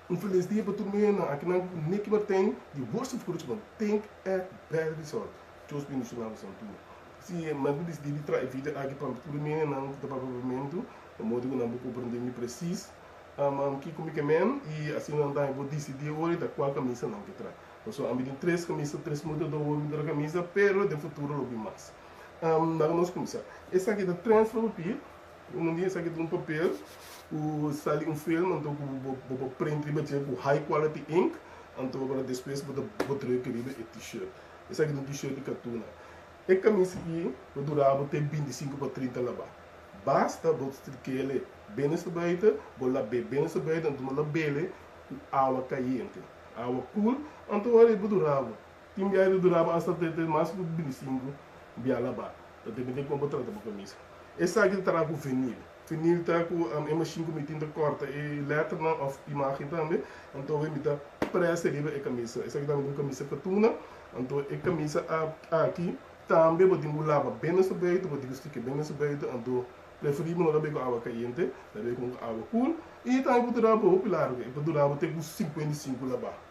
Un felis dia pa tur miembronan aki nan ku Nicky Martin di Worcester Vkrushman Think e Bell Resort. Dios bendiciona bo san tur. Si nan ku disidi di traha e video aki pa tur e miembronan ku ta papia pa Pemento e modo ku nan por komprende mi presis kiko mi ke men i asina nan tambe por disidi e ora i ta kual kamisa nan ke traha. Pasobra ami tin tres kamisa tres muda do wol mi dra kamisa pero den futuro lo bin mas. Nan ku nos kuminsá. Esaki ta trend for papia Unu di esaki ta un papel ku sali un film, anto ku bo por print riba dje ku high quality ink, anto a bora despues bo ta bota riba riba e t-shirt. Esaki ta un t-shirt di katuna. E kamis aki lo dura bo te binti sinku pa trinta laba. Basta bo strikele ben esta baita, bo lab'e ben esta baita, anto bo lab'ele ku awa kayente, awa koel, anto wak riba dura bo. Tin biaha ta duraba asta te te mas ku bintisinku biaha la ba. Ta tempu den kon bo trata bo kamisa. Esaki ta traha ku vinil. Vinil ta ku e mashin ku mi tin ta kòrta e lèternan òf imágen tambe. Anto awor mi ta presa riba e kamisa. Esaki tambe ta un kamisa katuna. Anto e kamisa aki tambe bo tin ku laba ben den su beitu, bo tin ku stik'e ben den su beitu. Anto preferibel no tabei ku awa kayente, tabei kon ku awa kul. I tambe por dura bo hopi largu. E por dura bo te ku sinkuenta i sinku la ba.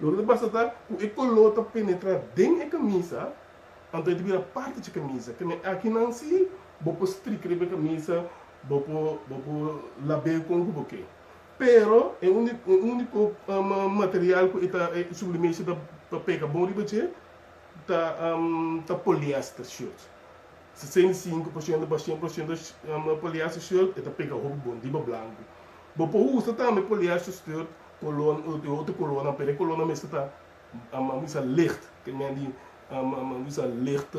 Loke ta pasa ta ku e koló ta penetrá den e kamisa, anto e ta bira parti dje kamisa. Kende akinan sí bo por strik riba e kamisa, bo por bo por lab'é kon ku bo ke. Pero e úniko e úniko material ku e ta e sublimeshi ta ta pega bon riba dje ta ta poliester shirt. Sesenta i sinku por shento pa shen por shento poliester shirt e ta pega hopi bon riba blanku. Bo por usa tambe poliester shirt Colon, e otro colonnan, pero e colonnan mes ke ta a wisa licht, ke men di a wisa licht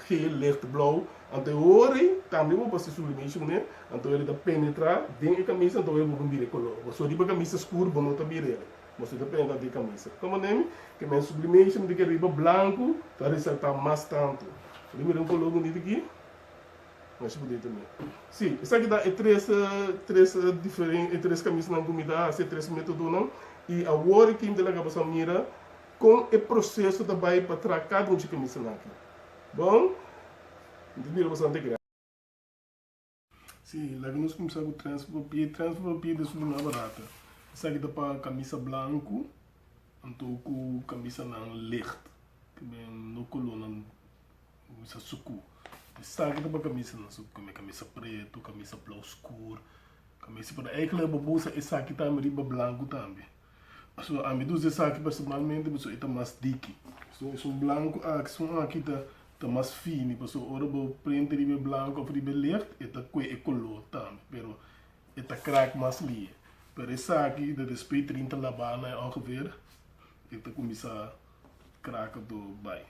geel, licht blauw, anto e ora ei cambia bo pa se sublimation menen, anto ela ta penetra den e camisa, anto ela bo por mira e color. Bo so riba camisa scuro bo no ta mira ela, mas bo ta penetra den e camisa. Kiko manera mi ke men sublimation di ke riba blanco ta resalta mas tanto. Bo ta mira un color bonito aki. Nos por di tambe. Sí, esaki ta e tres tres diferen e tres kamisnan ku mi ta hasi, e tres metodonan. I awor aki mi ta laga boso a mira kon e proseso ta bai pa traha kada un di e kamisanan aki. Bon, mi ta bira boso ante gra. Sí, laga nos kumsa ku transfer pie. Transfer pie ta su mas barato. Esaki ta pa kamisa blanku anto ku kamisanan licht, ku den no kolornan Camisa sucu. Esaki ta pa camisa nan sucu tambe. Camisa preto, camisa blau scur, camisa pero ey clor bo usa esaki tambe riba blanco tambe. So ami ta usa esaki personalmente pasobra ey ta mas diki. So esun blanco aki esun aki ta mas fini pasobra ora bo prente riba e blanco of riba e licht ey ta cue e color tambe pero ey ta crack mas lie. Pero esaki de despues trinta labana ongeveer ey ta cuminsa crack door bay.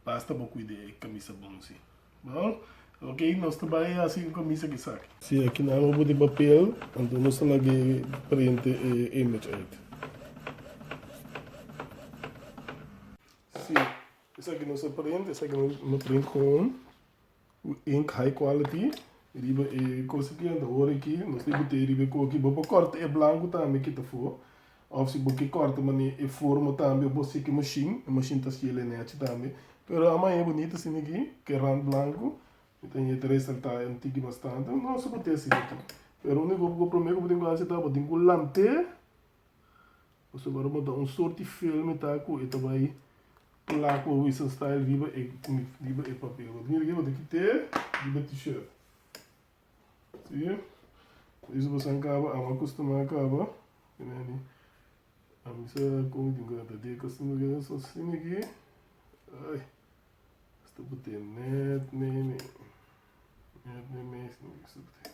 Basta bo cuida e camisa bon si. Bo? Ok, nos ta bay haci un camisa cu esaki. Si e kinan lo bo di papel, anto nos ta laga e printe e image uit. Si, esaki nos a print, esaki nos no print con. Ink high quality riba e cosa aki anto ora aki nos tin cu tee riba e coki bo por corta e blanco tambe kita fo of si bo ke corta mane e forma tambe of bo sek e machine e machine ta schila e nechi tambe pero a maya bonito asina aki ke rand blanco mi ta yete resalta e antigi bastante nos bo tee asina aki pero unico prome cu bo tin cu haci ta bo tin cu lantee. Pasobra ora bo ta un sorti fiel mi ta ku e ta bai pla ku Wisenstael riba e riba e papel. Bo ta mira kico bo ta kit'é riba e t-shirt. Si? Por eso bo san kaba amo a kustumá kaba mira ni a misa kon tin ku a ta deka si no ke nos ta sin aki ai hasta bo ta nèt mei mei nèt mei mei si no ke bo ta sin.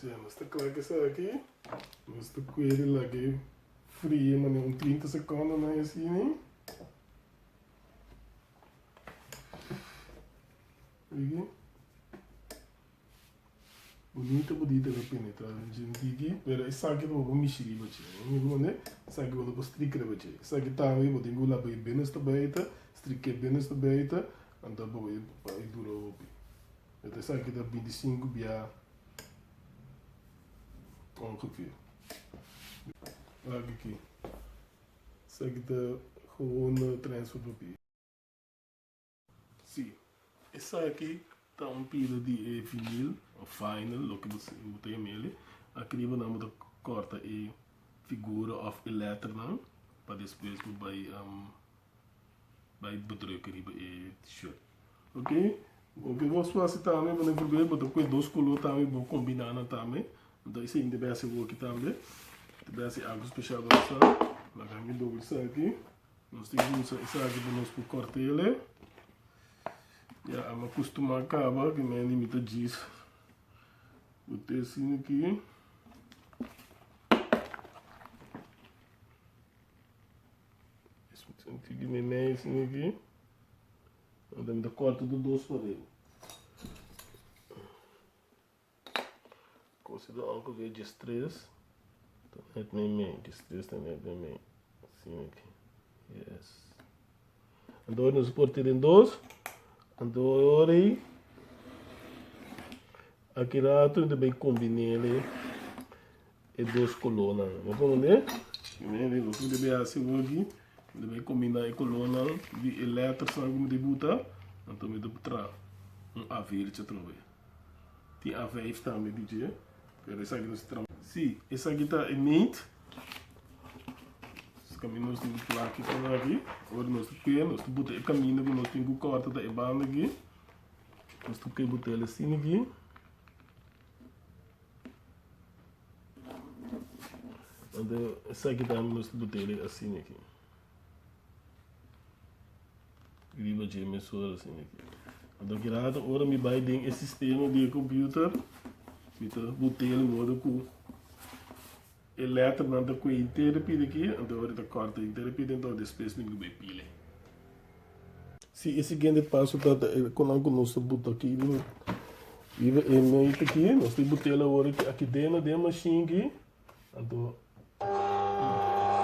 Si nos ta kla ku esaki, nos ta puede laga e frie manera un trinta sekondonan i asina. Oye, bunita bunita lo penetra den djentiki, pero esaki no bo mishi riba dje. E mismo mane, esaki bo no bo strik riba dje. Esaki tambe bo tin ku laba e ben hasta baita, strik'é ben hasta baita, anta bo e dura hopi. Met esaki ta bintisinku bia kon ku ke. Lagi ki. Esaki ta horona transfer papi. Si, esaki ta un pila di e vinil o vinyl loke bo si bo ta yama el. Aki riba nan bo ta korta e figura of e letternan pa despues bo bai. Bai bedruk riba e t-shirt. Ok loke bo su hasi tambe bo ne prub'e bo ta kue dos color tambe bo combina nan tambe enton esei debe hasi woki tambe debe hasi algo special pa nos nan nan gan e doble esaki nos tin ki usa esaki pa nos por cortele ya a m'acostuma caba cu me di mi ta djis bo te sin aki Senti di mi mes mi aki. Ahora mi ta corta tur dos pareho. Cosi do anco aquí dje stress ta net mi medio, dje stress ta net mi medio. Así mi aquí. Yes. Anto nos corta den dos. Anto ahora ahí. Aquí rato mi ta bay combinele. e dos colornan. Lo por mira? Mira lo cu mi debe haci ahora aquí. Mi debe combinar e colornan di e lettersnan cu mi ta buta. Anto mi ta traha un avertje atrobe. Tin A5 tambe, DJ. Pero esaki no esaki trampa. Si, esaki ta e meet. Escamino nos tin cu plaki por aki. Ora nos ta ke, nos ta buta e camino cu nos tin cu corta ta e banda aki. Nos ta ke butel asin aki. Ante esaki ta ami mester bo tele asina aki. Riba dje mesora asina aki. Ante aki rato ora mi bai den e sistema di e computer, mi ta bo tele modo ku E letternan ta cu e intere pide aki, anto ora ta corta e intere pide, anto despues mi lo bay pile. Si e siguiente paso ta ta e conan cu nos ta buta aki riba riba e meita aki, nos ta butel awor aki aki deno den e machine aki, anto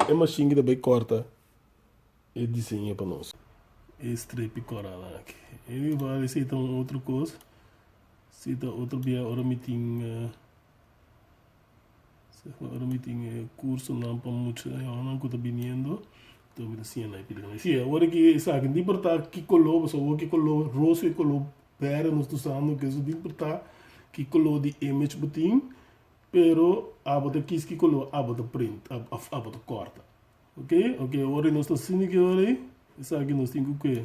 e machine aki ta bay corta e diseño pa nos. E strepi coranan aki. E mi wou esey ta un otro cos, si ta otro bia ora mi tin. Segun ora mi tin e cursonan pa mucha yawanan cu ta biniendo, enton mi ta siña nan e pilican. Si, awor aki esaki, no importa ki color, pasobra awor ki color rosa y color berde nos ta usando, keso no importa ki color di image bo tin, pero abo ta kis ki color abo ta print, abo ta corta, ok, ok, awor nos ta haciendo ki hora ey, esaki nos tin cu ke.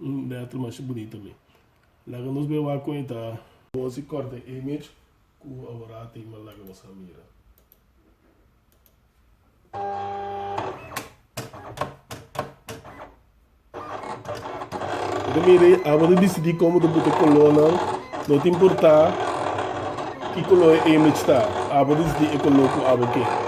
Un letra masha bunita mi. Laga nos bai wak con e ta. Nos i corta e image cu a wora a tema laga nos a mira. Ora mira e aba ta dicidi como ta buta color nan no ta importa ki color e image ta aba ta dicidi e color cu aba ke.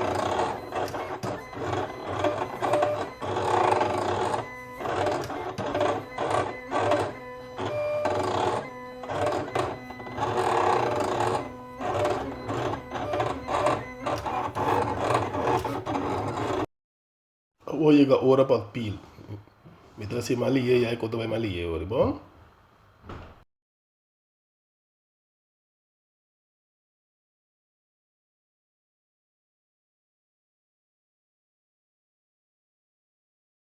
Awor yega ora pa pil. Mi ta hasi mal lihé, yai kor ta bai mal lihé awor, di bon?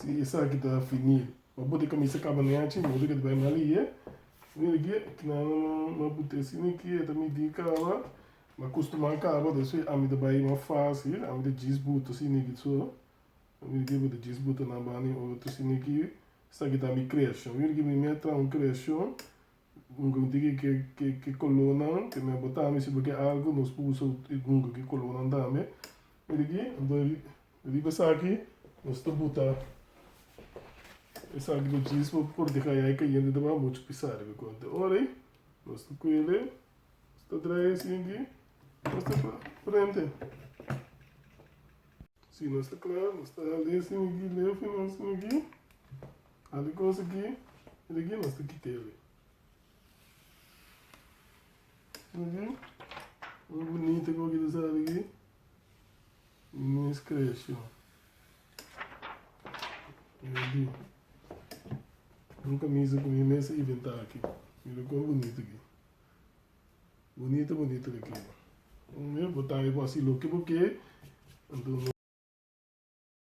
Si esaki ta fini pa bo te kamisa kaba na yachi, modo ke ta bai mal i e. Mira aki, aki nan lo lo bo te sini aki, e ta miti e kaba, lo akustumá kaba, ta asina ami ta bai mas fásil, ami ta djis buto sini aki so. Mira aki, bo ta djis buto nan banda e otro sini aki. Esaki ta mi kreashon. Mira aki, mi mi a traha un kreashon, nunka mi tiki ke ke ke kolónan ke mi a botá, mi sibi ke algu nos por usa nunka ke kolónan tambe. Mira aki, anto Riba esaki nos ta buta esaki di jeans pa por deha yai cayente ta baha mucho pisa riba conte. Ora ey nos ta cuye ley, nos ta trae asina aki nos ta cla prende. Si nos ta cla nos ta hali asina aki ley fina asina aki, hali cosa aki y de aki nos ta kita e ley. Asina aki, muy bunita coke ta sali aki. Minis creacion Rudy un camisa cu mi mes a inventa aki mira con bonito ki bonito bonito ta keda un mes bo tawe bo haci loke bo ke anto no.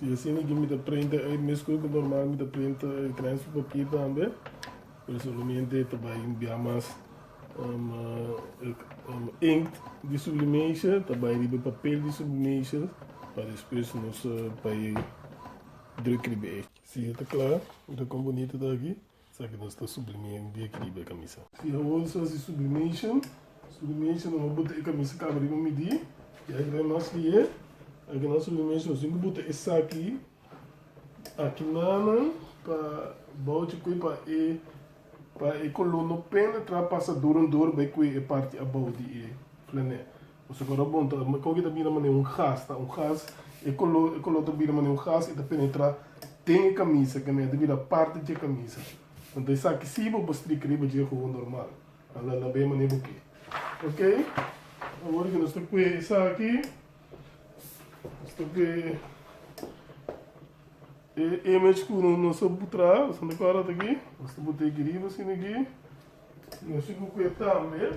Si e asina aki mi ta printa ey mescue cu normal mi ta printa el transfer papier tambe, pero solamente ta bay envia mas um, um, inkt di sublimation ta bay riba e papel di sublimation pa despues nos uh, bay druk riba ey. Si e ta cla, mira con bonito ta aki. Sa ki nos ta sublime un dia ki riba e kamisa. Si awor nos hasi sublimation, sublimation nos a bota e kamisa kaba riba un midí, i aki ta mas ki e, aki na sublimation nos tin ku bota esaki aki nanan pa bouchi kue pa e pa e koló no penetrá pasadura dor bai kue e parti abou di e flanel. Pasobra ku Rabón ta bai koke ta bira manera un gas, ta un gas, e koló, e koló ta bira manera un gas i ta penetrá den e kamisa, kende a ta bira parti dje kamisa. Anto esaki sí bo por strika riba dje hogo normal. A la la be manera bo ke. Ok, awor ku nos ta kue esaki, nos ta kue e image ku nos a butrá, nos a nota kòrda ta aki, nos ta bot'é aki riba asina aki, nos a kue tambe.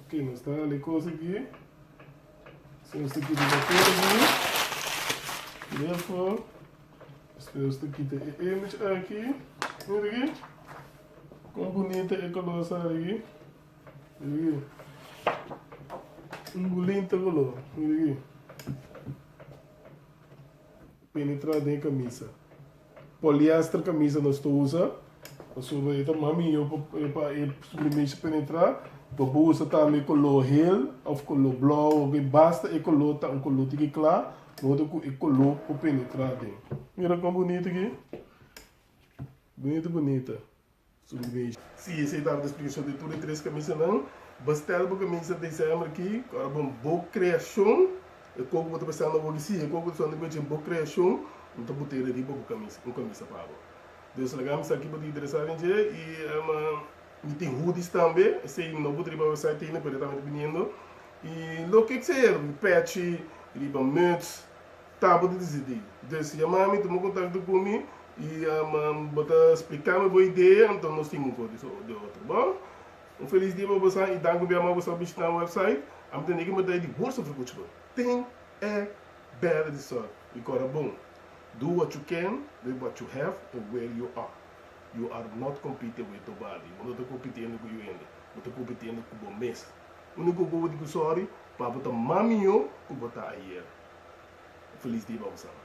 Ok nos ta hali cos aki so nos ta kita papel aki therefore despues nos ta kita e image aki mira aki con bunita e color sa aki mira aki un bulinta color mira aki. Penetra den e camisa. Poliester camisa nos ta usa, pasobra e ta mas miho pa e superficie penetra. Bo por usa tambe color hel of color blauw of e basta e color ta un color tiki cla, modo cu e color por penetra den. Mira con bunito aki! Bunito bunita. Si esei tava di splikashon di tur e tres kamisanan, bo stèl bo kamisa desèmber aki, kòrda bo bo kreashon, e koko ku bo ta pensá na woki, si, e koko ku ta suena di kuechi, bo kreashon, N ta bot'é riba bo kamisa, un kamisa pa bo. Dios laga mi sa aki pa ti interesá den dje, i ama mi tin hudis tambe, esei no bot'é riba website tende, pero e tabata biniendo, i loke sea, riba pèchi, riba muts. Ta bo ta disidí. Des ya mami tuma kontakto ku mi i bo ta spliká mi bo idea, anto nos tin un kos di otro. Bo un felis dia pa bosan i danki bia mas bo sa bishitá mi wèpsait. Ami ta niki mata e di bursa for kuchi bo. Tin e bèla di sòrt i kora bon. Do what you can with what you have and where you are. You are not competing with nobody. Bo no ta kompitiendo ku yu hende. Bo ta kompitiendo ku bo mes. Úniko ku bo di ku sòri pa bo ta ma mihó ku bo ta ayer. Un felis dia pa boso alma.